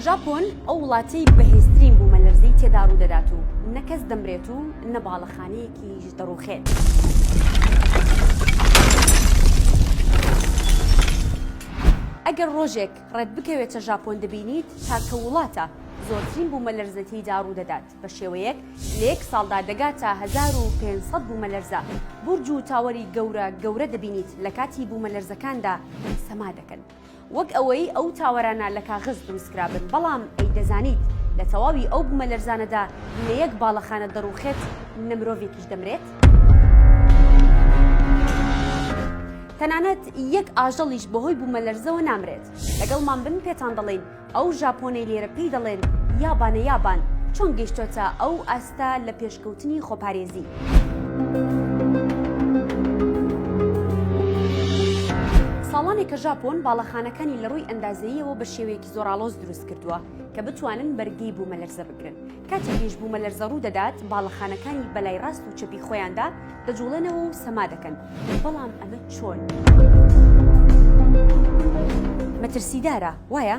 ژاپۆن ئەو وڵاتی بەهێزترین بوومەلەرزی تێدا ڕوو دەدات و نەکەس دەمرێت و نە باڵەخانەیەکیش دەڕوخێت. ئەگەر ڕۆژێک ڕێت بکەوێتە ژاپۆن دەبینیت تاکە وڵاتە زۆرترین بوومەلەرزەتیدا ڕوو دەدات. بە شێوەیەک لە یەک ساڵدا دەگاتە هەزار و پێنج سەد بوومەلەرزە، بورج و تاوەری گەورە گەورە دەبینیت لە کاتی بوومەلەرزەکاندا سەما دەکەن، وەک ئەوەی ئەو تاوەرانە لە کاغز دروستکرابن، بەڵام ئەی دەزانیت لە تەواوی ئەو بوومەلەرزانەدا لە یەک باڵەخانە دەڕووخێت نە مرۆڤێکیش دەمرێت؟ تەنانەت یەک ئاژەڵیش بەهۆی بوومەلەرزەوە نامرێت، لەگەڵمان بن پێتان دەڵێین، ئەو ژاپۆنەی لێرە پێی دەڵێن یابانە یابان چۆن گەیشتۆتە ئەو ئاستە لە پێشکەوتنی خۆپارێزی؟ ساڵانێکە ژاپۆن باڵەخانەکانی لە ڕووی ئەندازەییەوە بە شێوەیەکی زۆرئاڵۆز دروست کردووە کە بتوانن بەرگەی بوومەلەرزە بگرن، کاتێکیش بوومەلەرزە ڕوو دەدات، باڵەخانەکانی بە لای ڕاست و چەپی خۆیاندا دەجووڵێنەوە و سەما دەکەن، بەڵام ئەمە چۆن؟ مەترسیدارە، وایە؟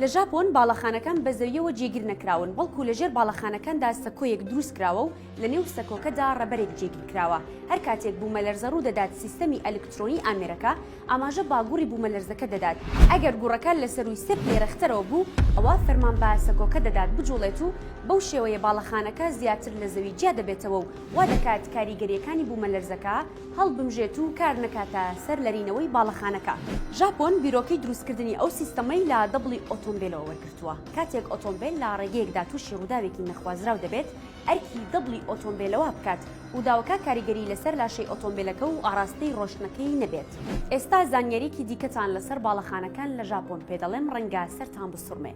لە ژاپۆن باڵەخانەکان بە زەوییەوە جێگیر نەکراون، بەڵکو لەژێر باڵەخانەکاندا سەکۆیەک دروست کراوە و لەنێو سەکۆکەدا ڕەبەرێک جێگیر کراوە، هەر کاتێک بوومەلەرزە ڕوو دەدات سیستەمی ئەلکترۆنی ئامێرەکە، ئاماژە بە گوڕی بوومەلەرزەکە دەدات، ئەگەر گوڕەکە لە سەرووی سێ پلەیرەختەرەوە بوو، ئەوا فەرمان بە سەکۆکە دەدات بجوڵێت و بەو شێوەیە باڵەخانەکە زیاتر لە زەوی جیا دەبێتەوە و وا دەکات کاریگەرییەکانی بوومەلەرزەکە هەڵبمژێت و کار نەکاتە سەر لەرینەوەی باڵەخانەکە. ژاپۆن بیرۆکەی دروستکردنی ئەو سیستەمەی لە دەبڵی ئۆتۆمبێلەوە وەرگرتووە، کاتێک ئۆتۆمبێل لە ڕێگەیەکدا تووشی ڕووداوێکی نەخوازراو دەبێت، ئەرکی دبڵی ئۆتۆمبێلەوە بکات و داوەکە کاریگەری لەسەر لاشەی ئۆتۆمبێلەکە و ئاڕاستەی ڕۆشتنەکەی نەبێت. ئێستا زانیاریەکی دیکەتان لەسەر باڵەخانەکان لە ژاپۆن پێدەڵێم ڕەنگە سەرتان بسوڕمێ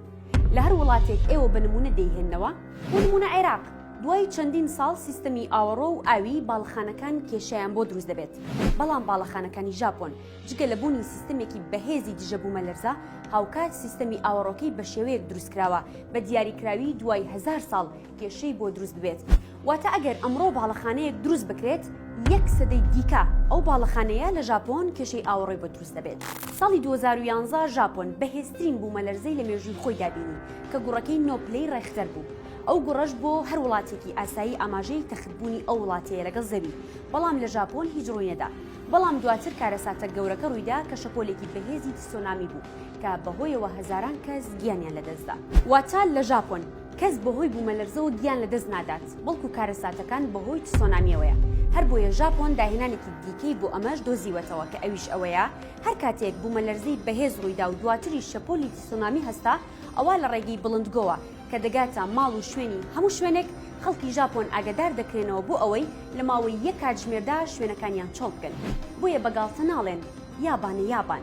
لە هەر وڵاتێک ئێوە بە نمونە دەیهێننەوە، بۆ نمونە عێراق دوای چەندین ساڵ سیستەمی ئاوەڕۆ و ئاوی باڵەخانەکان کێشەیان بۆ دروست دەبێت، بەڵام باڵەخانەکانی ژاپۆن جگە لە بوونی سیستەمێکی بەهێزی دژە بومەلەرزە هاوکات سیستەمی ئاوەڕۆکەی بەشێوەیەک دروستکراوە بە دیاریکراوی دوای هەزار ساڵ کێشەی بۆ دروست ببێت واتە ئەگەر ئەمڕۆ باڵەخانەیەک دروست بکرێت یەک سەدەی دیکە ئەو باڵەخانەیە لە ژاپۆن کێشەی ئاوەڕێ بۆ دروست دەبێت ساڵی 2011 ژاپۆن بەهێزترین بوومە لەرزەی لە مێژووی خۆی دابینی کە گوڕەکەی نۆپلەی ڕێختەر بوو ئەو گوڕەش بۆ هەر وڵاتێکی ئاسایی ئاماژەی تەختبوونی ئەو وڵاتەیە لەگەڵ زەوی بەڵام لە ژاپۆن هیچ ڕووینەدا بەڵام دواتر کارەساتە گەورەکە ڕوویدا کە شەپۆلێکی بەهێزی تسۆنامی بوو کە بەهۆیەوە هەزاران کەس گیانیان لەدەستدا واتە لە ژاپۆن کەس بەهۆی بوومەلەرزەوە گیان لەدەست نادات، بەڵکو کارەساتەکان بەهۆی تسۆنامییەوەیە، هەربۆیە ژاپۆن داهێنانێکی دیکەی بۆ ئەمەش دۆزیوەتەوە کە ئەویش ئەوەیە هەر کاتێک بوومەلەرزەی بەهێز ڕوویدا و دواتریش شەپۆلی تسۆنامی هەستا ئەوا لە ڕێگەی بڵندگۆوە کە دەگاتە ماڵ و شوێنی هەموو شوێنێک خەڵکی ژاپۆن ئاگادار دەکرێنەوە بۆ ئەوەی لە ماوەی یەک کاتژمێردا شوێنەکانیان چۆڵ بکەن بۆیە بە گاڵتە ناڵێن یابانە یابان.